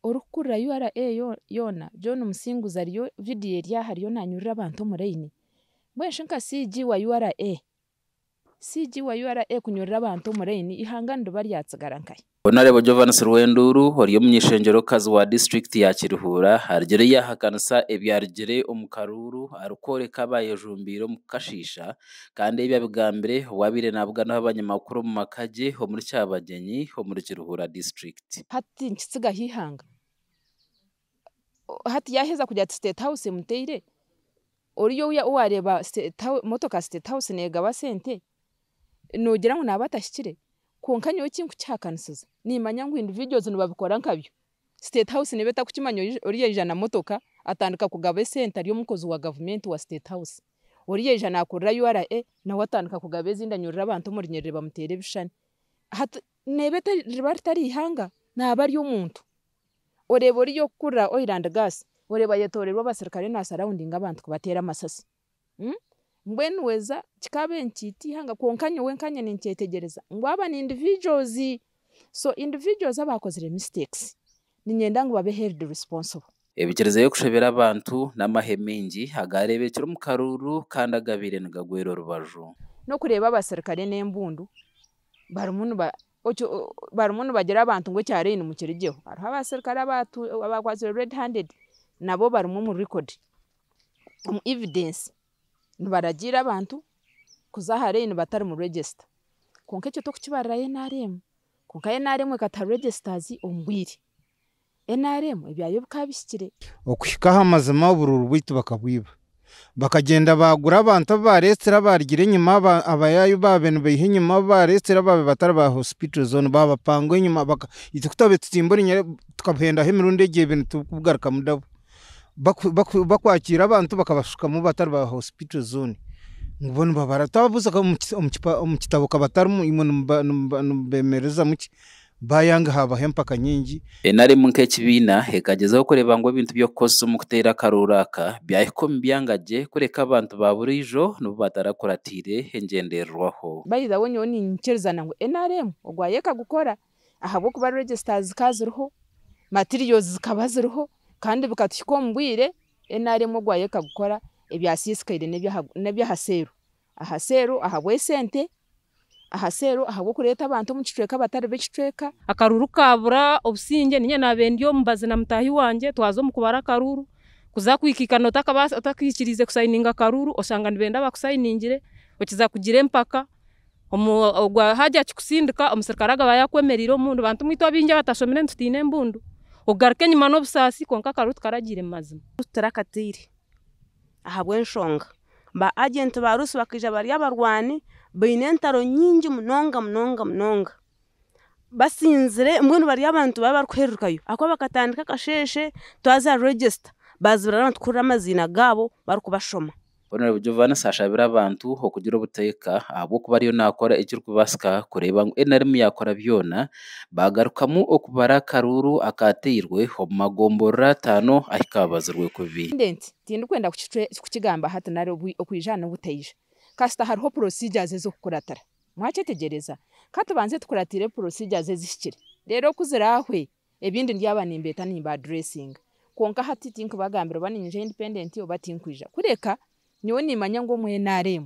Orikukurira ura yoona John Musinguzi ariyo video eri aha ariyo nanyurura abantu omu line. Mbwenu shi nka CG wa ura? CG wa ura kunyurura abantu omu line ihanga niriba ryatsigara nkahi? Honourable Jovans Rwenduuru ori omunyeshengyerokazi wa district ya Kirihuura arugire yahakanisa ebyarugire omu karuuru arikworeka abaayejumbiire omu kukashiisha kandi ebi abigambire obwabaire nabuganaho abanyamakuru omu maka gye omuri Kyabagyenyi omuri Kirihuura district. hati nikitsigaho eihanga, hati yaheza kugira ati state house emuteire, oriya ou wareeba state house motoka ya state house negaba sente, nogira ngu naba atahikire? Kwonka nyowe ekinkukihakanisiza nimanya ngu individuals nibabikora nkabyo, state house neba etakukimanya ori oriya aija na motoka atandika kugaba esente ari omukozi wa gavumenti wa state house, oriya aija nakorera URA nawe atandika kugaba ezindi anyurura abantu omu runyiriri bamuteera ebishushani hati Neeba etari riba ritari ihanga naaba ari omuntu. Oreeba ori yokukurira oil and gas oreeba ayetoreirwe abasirikare na surroundinga abantu kubateera amasasi. Mbwenu weza kikaabe nti tiihanga kwonka nyowe nkanye ninkyetegyereza ngu aba ni individuals. So individuals abakozire mistakes. Ninyenda ngu babe held responsible. Ebikiriza y'okushobera abantu n'amahe maingi agaareebekire omu karuuru kandi agabaire nigagwera orubaju. N'okureeba abaserukare n'embundu barimu nibagira abantu ngu ekya Raini mukirigyeho. Hariho abaserukare abaakwatsirwe red handed nabo barimu omu record, omu evidence nibaragiira abantu kuza aha Raini batarimu register. Kwonka ekyo tikukibarirayo nrm Kwonka nrm ekata registers omu bwire. Nrm ebyayo bikaba bihikire. Okuhika aha mazima oburuuru bwaitu bakabwiba. Bakagyenda baagura abantu abu baareetsire abaarugire enyima, aba, abayaayu baabe nibaiha enyima, abu baareetsire baabe batari ba hospital zone baabapangwa enyima, baka, itwe ku twabaire tutimbura enyere, tukabuhendaho emirundi egyo ebiri nitubugarukamu dabo. bakwakiira abantu bakabashukamu batari ba hospital zooni, ngu bo nibabara twabuuza omu kitabo ka batarimu imwe nimubemererizamu ki? Baayanga haabaho empaka nyingi. Nrm nk'ekibiina ekagyezaho kureeba ngu ebintu by'okukozesa omu kuteera akarooro aka byahika omu byanga gye kureka abantu ba buriijo nibo batarakuratiire engyendererwaho. By the way nyowe niinyikiriza ngu nrm ogwayo ekagukora. ahabw'okuba registers zikaba ziriho, materials zikaba ziriho kandi bikatuhika omu bwire NRM ogwayo ekagukora ebyasiisikaire n'ebyaha sale, aha sale ahabw'esente, aha sale ahabw'okureeta abantu omu kicweka abatari b'ekicweka. Akaruuru kaabura obusingye niinye naabaire ndi omubazi na mutaahi wangye twaza omu kubara akaruuru, kuza kuhikiika nootakaba otakahikiriize kusayininga akaruuru oshanga nibenda bakusayiningire, okiza kugira empaka. omu ogwo haagira kikusindika, omusirikare agaba ayakwemereire omu mbundu, bantu mweitu abaingi abatashomire nitutiina embundu, okugaruka enyima n'obusaasi kwonka akaba tukaragiire mu mazima. Tutarakataire ahabw'enshonga ba agenti baarusi bakaija bari abarwani baine entaro nyingi munonga munonga munonga, basinzire mbwenu bari abantu baabe barikuhererukayo ahakuba bakatandika akasheeshe twaza register baazibira abantu kuhurira amaziina gaabo barikubashoma. Hon Jovanis ashabire abantu okugira obuteeka ahabw'okuba ariyo naakora ekirikubaasika kureeba ngu nrm yaakora byona baagarukamu okubara akaruuru akaatairwe omu magomborora ataano ahu kaabazirwe kubi. President, tindikwenda kukigamba hati nari okwija n'obutaija kasita hariho procedures ez'okukuratira. Mwakyetegyereza? Ka tubanze tukuratire procedures ezihikire reero ku ziraahwe Ebindi ndyaba nimbeeta nimba addressinga. Kwonka hati tinkubagambira oba niinyija independent oba tinkwija. Kureka, nyowe niimanya ngu omu nrm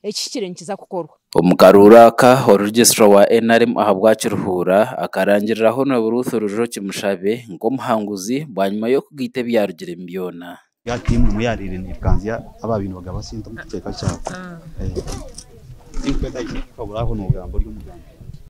ekihikire nikiza kukorwa. Omu karuuru aka, oruregistra wa nrm ahabwa Kiruhura, akarangirira Hon Ruth Rujoki Mushabe nk'omuhanguzi bwanyima y'okugaita ebyarugiremu byona. Ya tiimu emwe eyaareire neekanzya abaabaire nibagaba sente omu kicweka kyabo. Tinkweetaagisa kukuhabura aho noogamba ori omugambi.